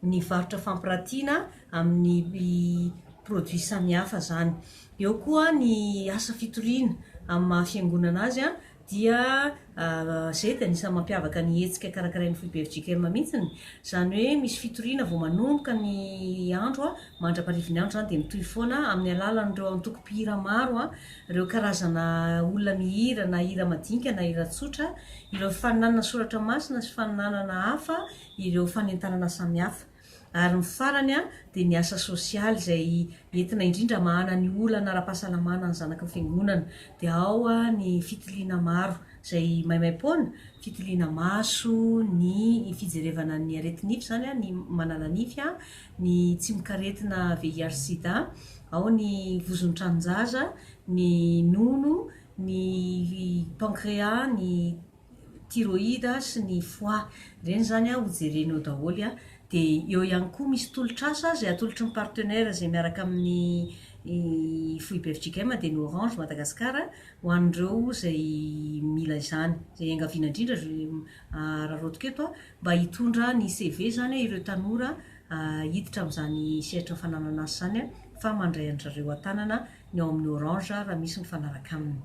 ny varotra fampiratiana amin'ny produits samihafa izany. Eo koa ny asa fitoriana amin'ny maha fiangonana azy dia izay dia anisan'ny mampiavaka ny hetsika karakarain'ny foibe FJKM mihitsiny, izany hoe misy fitoriana vao manomboka ny andro mandra-parivin'ny andro izany dia mitohy foana amin'ny alalan'ireo antoko mpihira maro, ireo karazana olona mihira na hira madinika na hira tsotra, ireo faninanana soratra masina sy faninanana hafa ireo fanentanana samihafa. Ary ny farany dia ny asa sosialy izay entina indrindra mahana ny olana ara-pahasalamana ny zanaky ny fiangonana. Dia ao ny fitiliana maro izay maimaim-poana, fitiliana maso, ny fijerevana ny aretinify izany, ny manala nify, ny tsimok'aretina VIH sida, ao ny vozon'ny tranon-jaza, ny nono, ny pankrea, ny. thyroïde sy ny foie ireny zany an ho jereny ao daholo an, de eo ihany koa misy tolotr'asa zay atolotry ny partenaires zay miaraka amin'ny foibe fjkm dia ny orange Madagascar ho an'ireo zay mila izany zay iangaviana indrindra araraotiko eto an mba hitondra ny CV zany an ireo tanora hiditra amin'izany sehatry ny fananan'asa izany an fa mandray an'dry zareo an-tanana ny ao amin'ny orange raha misy mifanaraka aminy.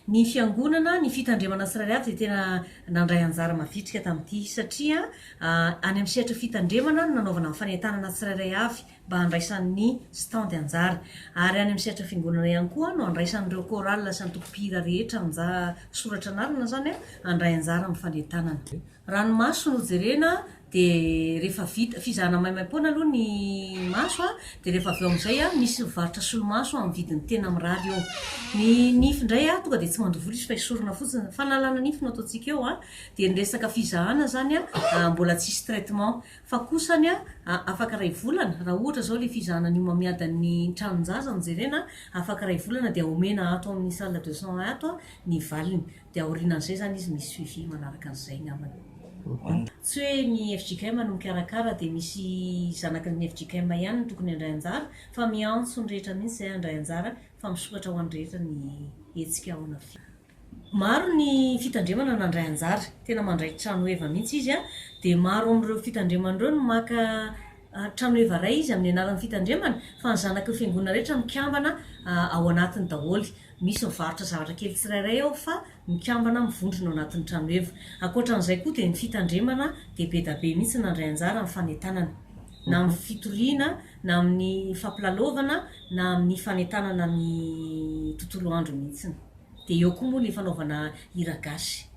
Ny Fiangonana, ny fitandremana srariat dia tena nandray anjara mavitrika tamin'ity satria any amin'ny sehatra fitandremana no nanaovana ny fanentanana tsirairay avy mba handraisan'ny stand anjara. Ary any amin'ny sehatra fiangonana ihany koa no andraisan'ireo chorale sy antokom-pihira rehetra anja soratra anarana izany handray anjara amin'ny fanentanana. Ranomaso no jerena dia rehefa vita fizahana maimaim-poana aloha ny maso an, dia rehefa avy eo amin'izay an, misy mivarotra solomaso amin'ny vidiny tena mirary eo, ny nify indray an, tonga dia tsy mandoa volo izy fa esorina fotsiny, fanalana nify no ataontsika eo an, dia ny resaka fizahana izany an, mbola tsy hisy traitement, fa kosany an, afaka iray volana, raha ohatra izao ilay fizahana ny homamiadan'ny tranon-jaza no jerena an, afaka iray volana dia omena ato amin'ny salle de soins ato ny valiny. dia aorianan'izay izany izy misy suivi manaraka an'izay angambany. Tsy hoe ny fjkm no mikarakara dia misy zanaky ny fjkm ihany no tokony handray anjara fa miantso ny rehetra mihitsy izay handray anjara fa misokatra ho an'ny rehetra ny hetsika ao an'fjkm. Maro ny fitandremana nandray anjara, tena mandray tranoheva mihitsy izy dia maro amin'ireo fitandremana ireo no maka tranoheva iray izy amin'ny anaran'ny fitandremana fa ny zanaky ny fiangonana rehetra mikambana ao anatiny daholo. Misy mivarotra zavatra kely tsirairay ao fa mikambana mivondrona ao anatin'ny tranoheva. Ankoatra an'izay koa dia ny fitandremana dia be da be mihitsy nandray anjara amin'ny fanentanana. Na amin'ny fitoriana, na amin'ny fampilalaovana, na amin'ny fanentanana ny tontolo andro mihitsy. Dia eo koa moa ny fanaovana hira gasy.